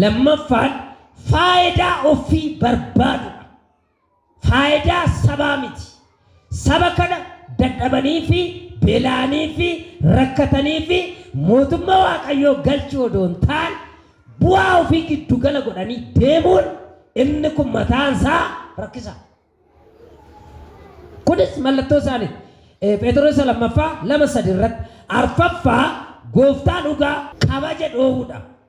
Lammaffaan faayidaa offii barbaadudha. Faayidaa sabaa miti. Saba kana dadhabanii fi bela'anii fi rakkatanii fi mootumma Waaqayyoo galchuu odoo hin taane bu'aa ofii giddu gala godhanii deemuun inni kun mataan isaa rakkisaa. Kunis mallattoo isaaniiti. Pheexiroos isa lammaffaa lama sadi irratti. Arfaffaa gooftaa dhugaa kabaja dhoowwudha.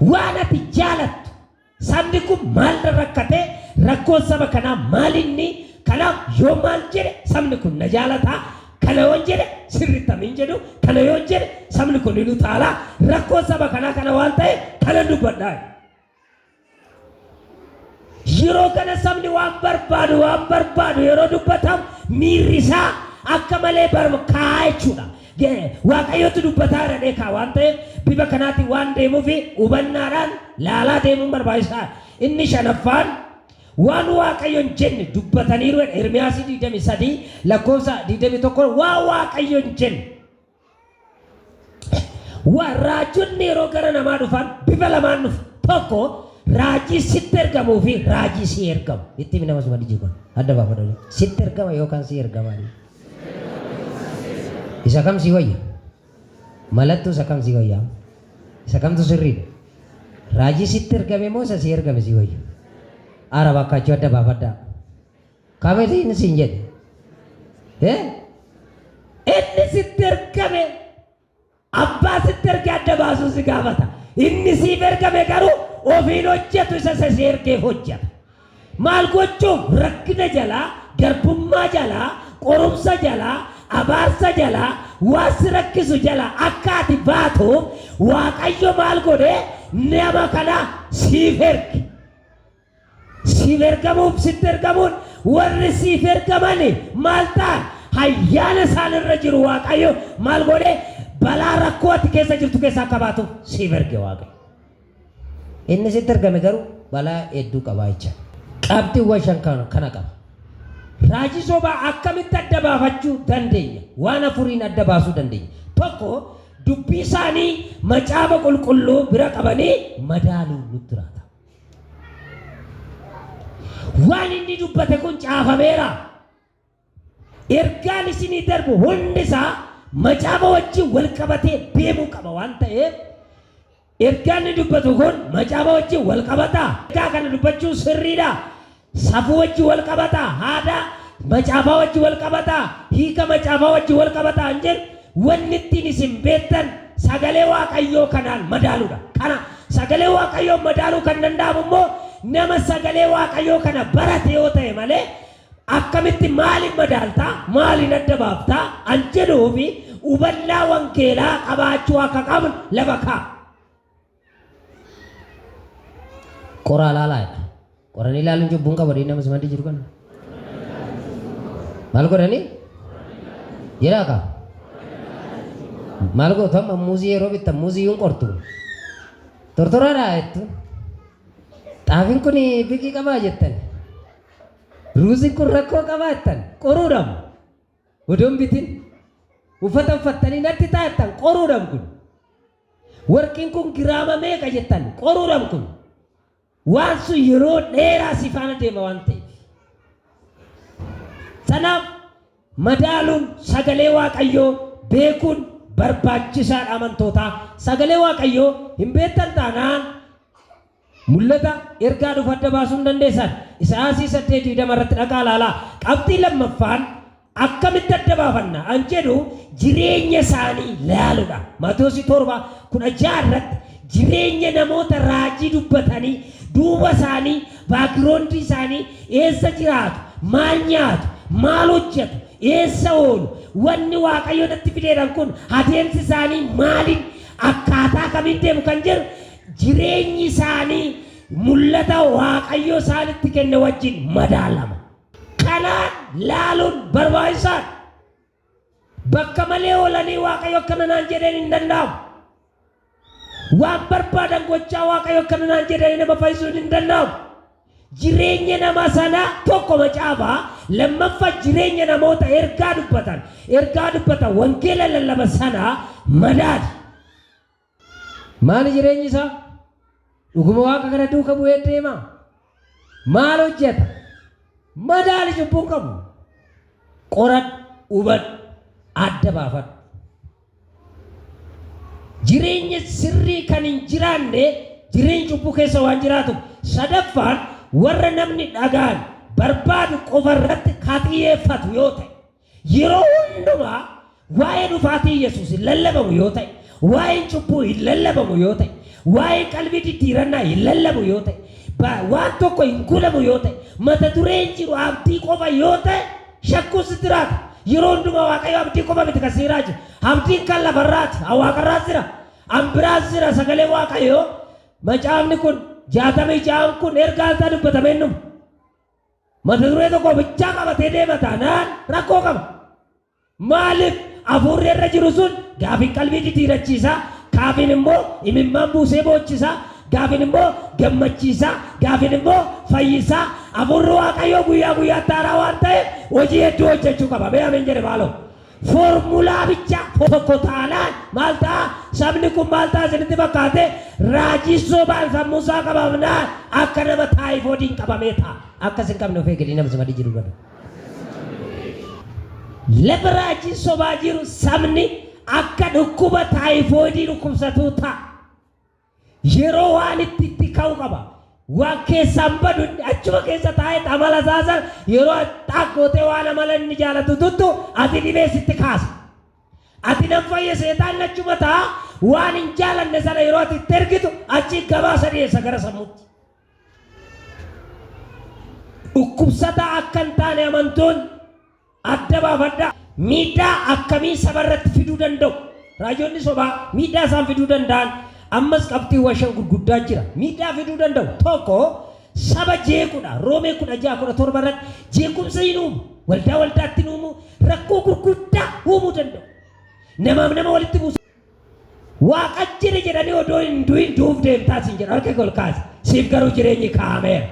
Waan ati jaalattu. Sabni kun maalirra rakkatee? Rakkoon saba kanaa maalinni? Kanaaf yoo maal jedhe sabni kun na jaalataa? Kana yoon jedhe sirritti amiin jedhu, kana yoon jedhe sabni kun hin utaalaa? Rakkoon saba kanaa kana waan ta'eef kanan dubbadhaa jedhe. Yeroo kana sabni waan barbaadu waan barbaadu yeroo dubbatamu miirri isaa akka malee barkaa'a jechuudha. Waaqayyootu dubbataa irra dheekaa waan ta'eef bifa kanaatiin waan deemuuf hubannaadhaan laalaa deemuun barbaachisaa. Inni shanaffaan waan waaqayyoon jenne dubbataniiru Ermiyaasii 23 lakkoofsa 21 waan waaqayyoon jenne Wa, Raajonni yeroo gara namaa dhufan bifa lamaan dhufu. Tokko raajii sitti ergamuu fi raajii sii ergamu. Itti himi nama suma dijii kun. Adda baafadhu. Sitti ergama yookaan sii ergama. Isa kam sii wayya? Malattuu isa kam sii wayya? Isa kamtu sirriidha? Raajii sitti ergame moo isa sii ergame sii wayya? Araba akkaachuu adda baafadhaa. Qabetiin siin jedhe. Eh? Inni sitti ergame abbaa sitti erge adda baasuu si gaafata. Inni siif ergame garuu ofiin hojjetu isa isa si ergeef hojjeta. Maal gochuuf rakkina jalaa, garbummaa jalaa, qorumsa jalaa, abaarsa jalaa, waan si rakkisu jalaa akka ati baatuuf Waaqayyo maal godhee nama kana siif erge. Siif ergamuuf sitti ergamuun warri siif ergamani maal ta'an? Hayyaana isaan irra jiru Waaqaayyo maal goodhee balaa rakkoo ati keessa jirtu keessa akka baatuuf siif erge Waaqayyo. Inni sitti ergame garuu balaa hedduu qabaa jechaa. Qabxiwwan shan kana kana qaba. Raajii sobaa akkamitti adda baafachuu dandeenya? Waan afuriin adda baasuu dandeenya. Tokko dubbii isaanii macaafa qulqulluu bira qabanii madaaluun nutti raatama. Waan inni dubbate kun caafameera. Ergaan isinii darbu hundi isaa macaafa wajjin wal qabatee deemuu qaba waan ta'eef ergaan inni dubbatu kun macaafa wajjin wal qabataa? Ergaa kana dubbachuun sirriidhaa? Safuu wajjin wal qabataa? Haadaa? Macaafaa wajjin wal qabataa? Hiika macaafaa wajjin wal qabataa? Kan jedhu wanni ittiin isin beektan sagalee Waaqayyoo kanaan madaaluudha. Kana sagalee Waaqayyoon madaaluu kan danda'amu immoo nama sagalee Waaqayyoo kana barate yoo ta'e malee akkamitti maaliin madaalta, maaliin adda baafta kan jedhuuf hubannaa wangeelaa qabaachuu akka qabnu lafa kaa'a. Qoraa laalaa jedha. Qoranii laaluun cubbuu hin qabu dhiigni amma simaddi jiru kana. Maal godhanii? Jedhaa kaa. Maal gootu amma muuzii yeroo bittan muuzii yuun qortu. Tortoraadhaa jettu. Xaafiin kun biqii qabaa jettan. Ruuziin kun rakkoo qabaa jettan. Qoruudhaam. Odoon bitin. Uffata uffattanii natti taa'attan qoruudhaam kun. Warqiin kun giraama meeqa jettan? Qoruuram kun waan sun yeroo dheeraa si faana deema waan ta'eef. Sanaaf madaaluun sagalee Waaqayyoo beekuun barbaachisaadha amantootaa. Sagalee Waaqayyoo hin beektan taanaan. Mul'ata, ergaa dhufu adda baasuu hin dandeessan. Isaayaasii 8, 20 irratti dhaqaa ilaalaa. Qabxii lammaffaan akkamitti adda baafanna an jedhu jireenya isaanii laaludha. Maatewosii 7, 16 irratti jireenya namoota raajii dubbatanii, duuba isaanii, background isaanii, eessa jiraatu, maal nyaatu, maal hojjatu, eessa oolu, wanni Waaqayyo natti fideedhan kun adeemsi isaanii maalin, akkaataa kamiin deemu kan jedhu Jireenyi isaanii mul'ata Waaqayyo isaanitti kenne wajjin madaalama. Kanaan laaluun barbaachisaa dha. Bakka malee oolanii Waaqayyo akkana naan jedheen hin danda'amu. Waan barbaadan gochaa Waaqayyo akkana naan jedhanii nama fayyisuun hin danda'amu. Jireenya nama sanaa tokko macaafa, lammaffa jireenya namoota ergaa dubbatan, ergaa dubbatan, wangeela lallaban sanaa madaali. Maali jireenyi isaa? Dhuguma Waaqa kana duuka bu'ee deema? Maal hojjeta? Madaali cubbuun qabu. Qoradhu, hubadhu, adda baafadhu. Jireenya sirrii kan hin jiraanne jireenyi cubbuu keessa waan jiraatuuf. Sadaffaan warra namni dhagaan barbaadu qofa irratti ka xiyyeeffatu yoo ta'e. Yeroo hundumaa waa'ee dhufaatii Yesuus hin lallabamu yoo ta'e, waa'een cubbuu hin lallabamu yoo ta'e, waa'een qalbii diddiirannaa hin lallabu yoo ta'e, ba, waan tokko hin gulamu yoo ta'e, mata duree hin jiru abdii qofa yoo ta'e shakkuun sitti jiraata. Yeroo hundumaa Waaqayyo abdii qofa miti kan si jiraachu. Abdiin kan lafarraati, an waaqarraas jira, an biraas jira sagaleen Waaqayyoo macaafni kun 66n kun ergaan isaa dubbatamee hin dhumu. Mata duree tokko bichaa qabatee deema taanaan rakkoo qaba. Maaliif? Afuurri irra jiru sun gaafin qalbii jijiirachiisa, kaafin immoo imimmaan buusee boochisa, gaafin immoo gammachiisa, gaafin immoo fayyisa. Afuurri Waaqayyoo guyyaa guyyaatti haaraa waan ta'eef hojii hedduu hojjechuu qaba. Mee ameen jedhe maaloo. Foormulaa bicha tokko taanaan maal ta'a? Sabni kun maal ta'a isinitti fakkaate? Raajii sobaan sammuu isaa qabamnaan akka nama taayifoodiin qabamee ta'a. Akkas hin qabne of eegali nama simadhi jiru bada. Lafa raajiin sobaa jiru sabni akka dhukkuba taayifoodii dhukkubsatuu ta'a. Yeroo waan itti itti ka'u qaba. Waan keessaan badu inni achuma keessa taa'eet amala isaa san yeroo xaaq gootee waan amala inni jaalatu tuttu ati dhibee sitti kaasa. Ati nan fayye seexaanni achuma taa'a waan hin jaalanne sana yeroo ati itti ergitu achii gabaasa dhiyeessa gara sammuutti. Dhukkubsataa akka hin taane amantoonni. Adda baafadhaa! Miidhaa akkamii saba irratti fiduu danda'u? Raajonni sobaa miidhaa isaan fiduu danda'an ammas qabxiiwwan shan gurguddaa jira. Miidhaa fiduu danda'u. Tokko, saba jeequdha. Roomee 16, 17 irratti jeequmsa in uumu. Waldaa waldaatti in uumu. Rakkoo gurguddaa uumuu danda'u. Namaaf nama walitti buusu. Waaqan jira jedhanii odoo hin du'in du'uuf deemtaa siin jedhu harka kee ol kaasi. Siif garuu jireenyi kaa'ameera.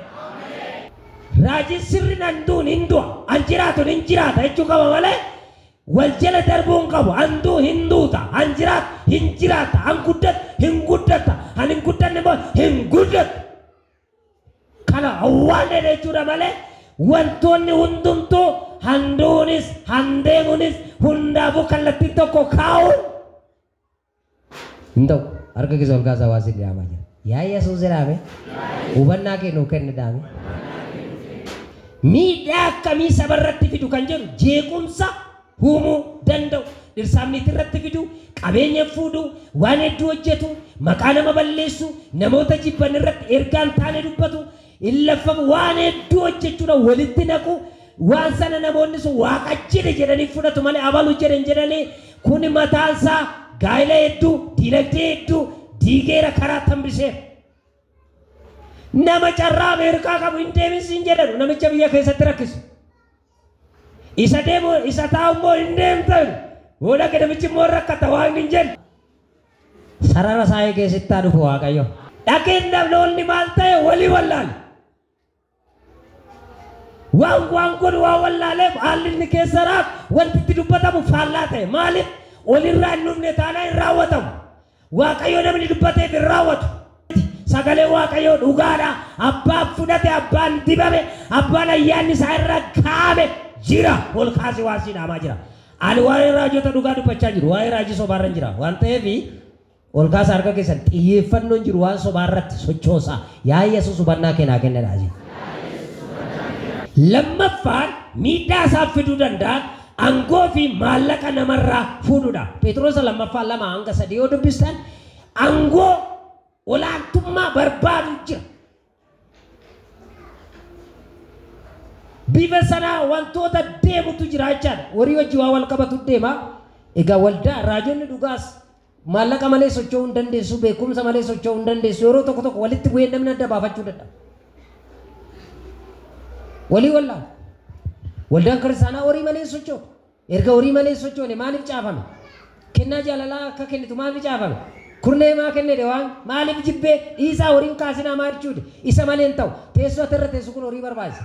Raajiin sirriin an du'un hin du'a, an jiraatun hin jiraata jechuu qaba malee wal jala darbuu hin qabu. An du'u hin duuta, an jiraatu hin jiraatta, an guddatu hin guddatta, an hin guddanne immoo hin guddattu. Kana awwaallee jechuudha malee wantoonni hundumtuu han du'uunis han deemuunis hundaafuu kallattiin tokko kaa'uun hin ta'u. Harka keessa ol kaasaa waan sin dhaamaa jira. Yaa Yesuus jedhaame hubannaa kee nuu kenni dhaame. Miidhaa akkamii saba irratti fidu kan jedhu jeequmsa huumuu, danda'u, dhirsaaf niitii irratti fidu, qabeenya fuudhu, waan hedduu hojjetu, maqaa nama balleessu, namoota jibban irratti ergaa hin taane dubbatu, hin laffamu, waan hedduu hojjechuudhaan walitti naqu, waan sana namoonni sun Waaqa jedhe jedhanii fudhatu malee abalu jedhe hin jedhani, kuni mataan isaa gaa'ila hedduu, diinagdee hedduu diigeera, karaa tambiseera. Nama carraa Ameerikaa qabu hin deemin siin jedhanu, namicha biyya keessatti rakkisu. Isa deemu isa taa'u immoo hin deemtan. Yoo dhaqe namichi immoo hin rakkata waan hin jenne. Sarara isaa eegee sitti haa dhufu Waaqayyo. Dhaqeen dhaloonni maal ta'e walii wallaale. Waan waan godhu waan wallaaleef haalli inni keessa jiraatu wanti itti dubbatamu faallaa ta'e. Maaliif? Olirraa hin dhufne taanaan hin raawwatamu. Waaqayyo namni dubbateef hin raawwatu. Sagaleen Waaqayyoo dhugaa dha, abbaan fudhate, abbaan dibame, abbaan ayyaanni isaa irra kaa'ame jira, ol kaasee waan sii dhaamaa jira. Ani waa'ee raajota dhugaa dubbachaa hin jiru, waa'ee raajii sobaa irran jira. Waan ta'eef, ol kaasaa harka keessan, xiyyeeffannoon jiru waan sobaa irratti sochoosa. Yaa Yesuus hubannaa kee naa kenni jedhaa. Lammaffaan, miidhaa isaan fiduu danda'an Angoo fi maallaqa nama irraa fuudhu dha. Pheexirosa 2ffaa 2-3 yoo dubbistan angoo, olaantummaa barbaadu jira. Bifa sanaa wantoota deemutu jira jechaa dha. Horii wajjin waan wal qabatu deema. Egaa waldaa, raajonni dhugaas, Maallaqa malee socho'uu hin dandeessu, beekumsa malee socho'uu hin dandeessu. Yeroo tokko tokko walitti bu'ee namni adda baafachuu dadhaba. Walii wallaala. Waldaan kiristaanaa horii malee hin socho'u. Erga horii malee hin sochoone maaliif caafame? Kennaa jaalalaa akka kennitu maaliif caafame? Kurnee maa kennede waan maaliif jibbee dhiisaa horiin kaasinaa maa jechuude isa malee hin ta'u. Teessoo ati irra teessu kun horii barbaachisa.